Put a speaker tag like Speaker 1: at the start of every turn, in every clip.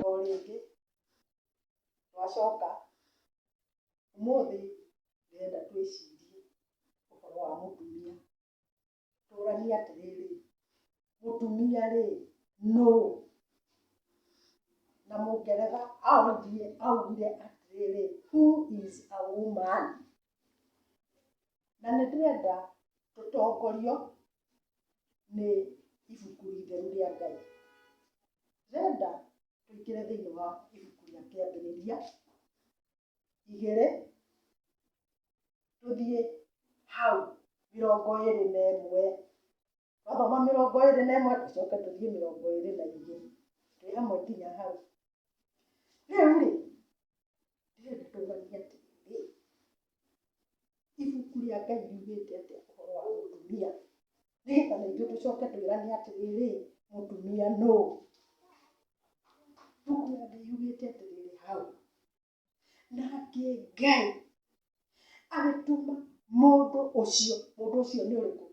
Speaker 1: O rĩngĩ twacoka, ũmũthĩ ndĩrenda twĩcirie ũhoro wa mũtumia. Tũranie atĩrĩrĩ, mũtumia rĩ, nũũ? Na mũngeretha augire atĩrĩrĩ, who is a woman? Na nĩ ndĩrenda tũtongorio nĩ ibuku itheru rĩa Ngai. Ndĩrenda tũingĩre thĩinĩ wa ibuku rĩa kĩambĩrĩria igĩrĩ tũthiĩ hau mĩrongo ĩrĩ na ĩmwe Twathoma mĩrongo ĩrĩ na ĩmwe tũcoke tũthiĩ mĩrongo ĩrĩ na igĩrĩ twĩ hamwe nginya hau. Rĩu rĩ, ndĩrenda tũmanye atĩrĩrĩ, ibuku rĩa Ngai riugĩte atĩa ũhoro wa mũtumia? Nĩgetha na ithuĩ tũcoke twĩrane atĩrĩrĩ, mũtumia nũ? Ibuku rĩa Ngai riugĩte atĩrĩrĩ hau, Nake Ngai agĩtũma mũndũ ũcio, mũndũ ũcio nĩ ũrĩkũ?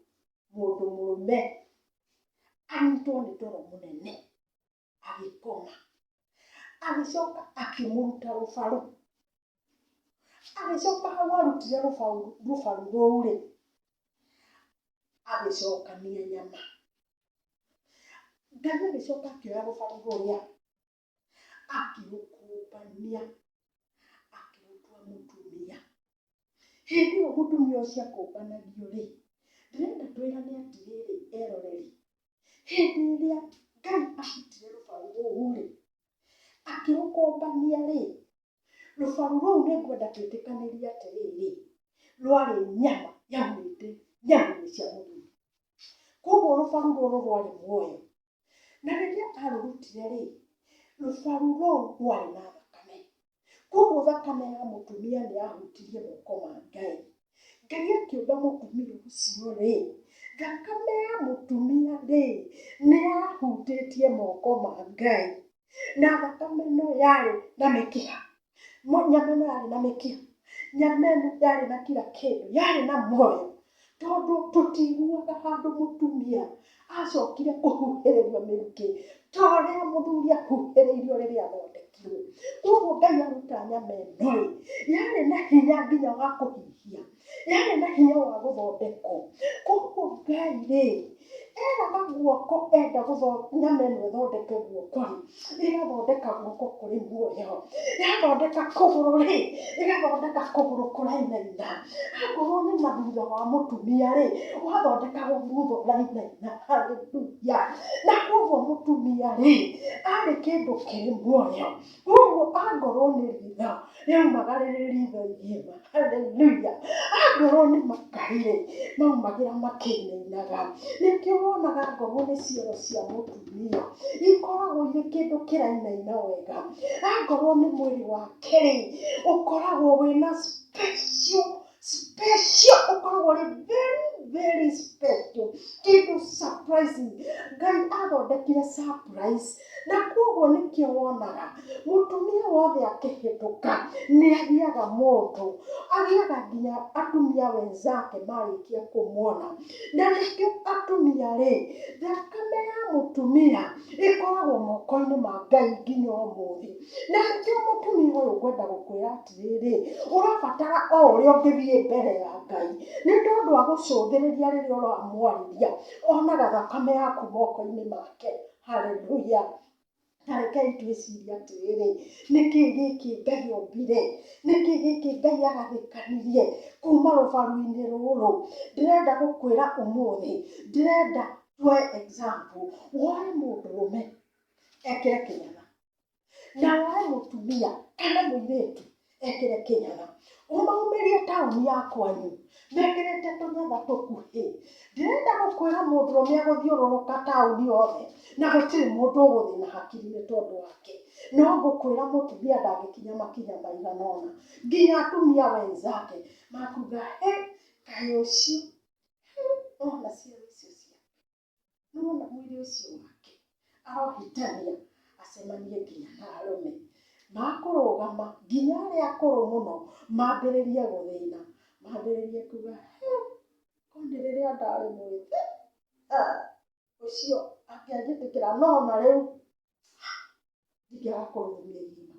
Speaker 1: Mũndũ mũrũme anyitwo nĩ toro mũnene agĩkoma, agĩcoka akĩmũruta rũbaru, agĩcoka hau arutire rũbaru rũbaru rũu rĩ, agĩcokania nyama. Ngai agĩcoka akĩoya rũbaru rũrĩa akĩrũkũmbania akĩrũtua mũtumia hĩndĩ ĩyo mũtumia ũcio akũmbanagio rĩ ndĩrenda twĩrane atĩrĩrĩ eroreri hĩndĩ ĩrĩa ngai acutire rũbaru rũu rĩ akĩrũkombania rĩ rũbaru rũu nĩ ngwenda twĩtĩkanĩria atĩrĩrĩ rwarĩ nyama yaumĩte nyama-inĩ cia mũthuri koguo rũbaru rũrũ rwarĩ muoyo na rĩrĩa arũrutire-rĩ, rũbaru rũu rwarĩ na thakame. Koguo thakame ya mũtumia nĩ yahutirie moko ma Ngai. Ngai akĩũmba mũtumia ũcio-rĩ, thakame ya mũtumia-rĩ, nĩ yahutĩtie moko ma Ngai. na thakame ĩno yarĩ na mĩkiha, nyama ĩno yarĩ na mĩkiha, nyama ĩno yarĩ na kira kĩndũ, yarĩ na muoyo, tondũ tũtiiguaga handũ mũtumia acokire kũhuhĩrĩrio mĩrukĩ ta ũrĩa mũthuri ahuhĩrĩirio rĩrĩa athondekirwo. Koguo Ngai aruta nyama ĩno-rĩ, yarĩ na hinya nginya wa kũhihia, yarĩ na hinya wa gũthondekwo. Koguo Ngai rĩ, eraga guoko enda nyama ĩno ĩthondeke guoko rĩ, ĩgathondeka guoko kũrĩ muoyo, yathondeka kũgũrũ rĩ, ĩgathondeka kũgũrũ kũrainaina, akorwo nĩ na thutha wa mũtumia rĩ, ũgathondeka thutha ũrainaina. Hallelujah! Na koguo mũtumia rĩ, arĩ kĩndũ kĩrĩ muoyo, Koguo angorwo nĩ ritho rĩaumagara rĩ ritho igima, haleluya, angorwo nĩ makai-rĩ, maumagĩra makĩinainaga. Nĩkĩo wonaga angorwo nĩ ciero cia mũtumia, ikoragwo irĩ kĩndũ kĩrainaina wega. Angorwo nĩ mwĩrĩ wake-rĩ, ũkoragwo wĩna special special ũkoragwo ũrĩ very very special kĩndũ surprising ngai athondekire surprise na koguo nĩkĩo wonaga mũtumia wothe akĩhĩtũka nĩ agĩaga moto agĩaga nginya atumia wenzake marĩkia kũmwona na nĩkĩo atumia rĩ thakame ya mũtumia ĩkoragwo moko-inĩ ma ngai nginya ũmũthĩ na nĩkĩo mũtumia ũyũ ngwenda gũkwĩra atĩ atĩrĩrĩ, ũrabatara o ũrĩa ũngĩthiĩ mbere ya Ngai, nĩ tondũ agũcũthĩrĩria rĩrĩa ũramwarĩria, onaga thakame yaku moko-inĩ make. Hallelujah. Ta rekei twĩcirie atĩrĩrĩ, nĩ kĩĩ gĩkĩ Ngai ombire? Nĩ kĩĩ gĩkĩ Ngai agathĩkanirie kuuma rũbaru-inĩ rũrũ? Ndĩrenda gũkwĩra ũmũthĩ, ndĩrenda tuoye example, woe mũndũrũme ekĩre kĩnyatha. Nawe we mũtumia kana mũirĩtu ekĩre kĩnyatha, ũmaumĩrie taũni ya kwanyu mekĩrĩte tũnyatha tũkuhĩ. Ndĩrenda gũkwĩra mũndũrũme agũthiũrũrũka taũni yothe na gũtirĩ mũndũ ũgũthĩna hakiri nĩ tondũ wake. No ngũkwĩra mũtumia ndangĩkinya makinya maigana ũna nginya atumia wenzake makuga hĩ! Kaĩ ũcio, nĩwona ciana icio ciake. Nĩwona mwĩrĩ ũcio wake arohĩtania acemanie nginya na arũme. Makũrũgama nginya arĩa akũrũ mũno mambĩrĩrie gũthĩna, mambĩrĩrie kuga he, korwo nĩ rĩrĩa ndarĩ mwĩthĩ, ha, ũcio angĩanjĩtĩkĩra no narĩu ndingĩgakorwo mĩgima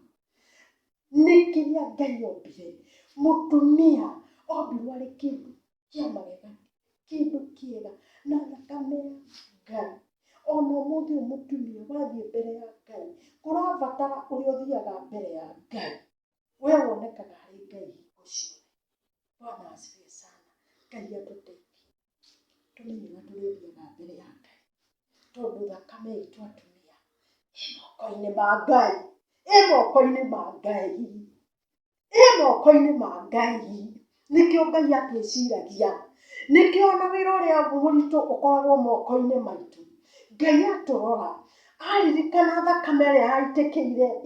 Speaker 1: nĩ kĩrĩa ngai ombire mũtumia ombirwo arĩ kĩndũ kĩa magegania kĩndũ kĩega na thakame ya ngai ona ũmũthĩ ũyũ mũtumia wathiĩ mbere ya ngai kũrabatara ũrĩa ũthiaga mbere ya ngai we wonekaga harĩ ngai hingo ciothe bwana asifiwe sana ngai atũteithie Andũ nĩ wega tũrĩthiaga mbere ya Ngai, tondũ thakame itũ atumia ĩ moko-inĩ ma Ngai, ĩ moko-inĩ ma Ngai, ĩ moko-inĩ ma Ngai. Nĩkĩo Ngai atwĩciragia, nĩkĩo ona wĩra ũrĩa mũritũ ũkoragwo moko-inĩ maitũ. Ngai atũrora, aririkana thakame ĩrĩa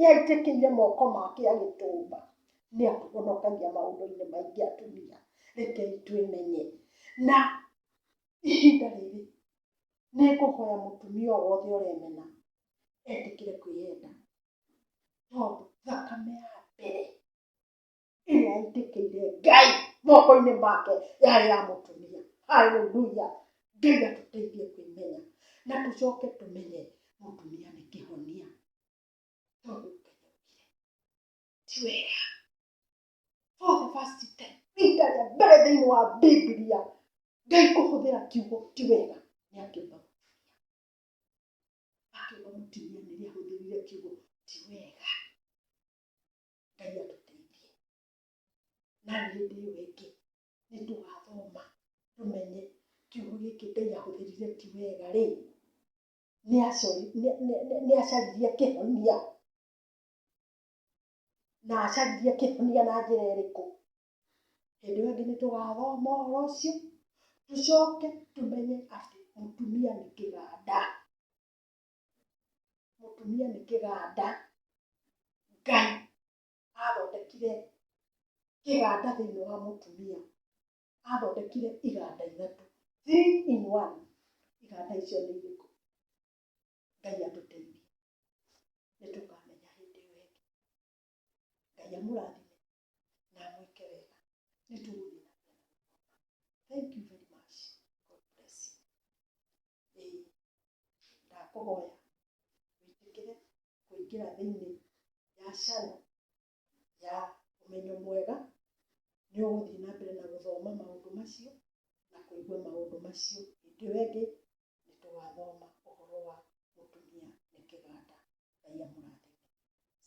Speaker 1: yaitĩkĩire moko make agĩtũmba. nĩ atũhonokagia maũndũ-inĩ maingĩ atumia, rekei twĩmenye. Na ihinda rĩrĩ nĩ ngũhoya mũtumia o wothe ũremena etĩkĩre kwĩyenda, tondũ thakame ya mbere ĩrĩa yaitĩkĩire Ngai moko-inĩ make yarĩ ya mũtumia. Hallelujah! Ngai atũteithie kwĩmenya na tũcoke tũmenye mũtumia nĩ kĩhonia. ti wega for the first time rita rĩa mbere thĩinĩ wa bibilia ngai kũhũthĩra kiugo ti wega nĩ akĩũmba akĩũmba mũtumia nĩrĩa ahũthĩrire kiugo ti wega ngai atũteithie na hĩndĩ ĩyo ĩngĩ nĩ tũgathoma tũmenye kiugo gĩkĩ ngai ahũthĩrire ti wega rĩ nĩ acaririe kĩhonia na acaririe kĩhonia na njĩra ĩrĩkũ? Hĩndĩ ĩyo ĩngĩ nĩ tũgathoma ũhoro ũcio tũcoke tũmenye atĩ mũtumia nĩ kĩganda, mũtumia nĩ kĩganda. Ngai athondekire kĩganda thĩinĩ wa mũtumia, athondekire iganda ithatũ, three in one. Iganda icio nĩ irĩkũ? ngai atũteithie nĩ tũkamenya hĩndĩ ĩyo ĩngĩ ngai amũrathime na amwĩke wega nĩ tũgũthiĩ na mbere thank you very much god bless you ĩĩ ndakũhoya wĩtĩkĩre kũingĩra thĩinĩ ya channel ya ũmenyo mwega, nĩ ũgũthiĩ na mbere na gũthoma maũndũ macio na kũigua maũndũ macio. Hĩndĩ ĩyo ĩngĩ nĩ tũgathoma ũhoro wa mũtumia nĩ kĩganda. Ngai amũrathime.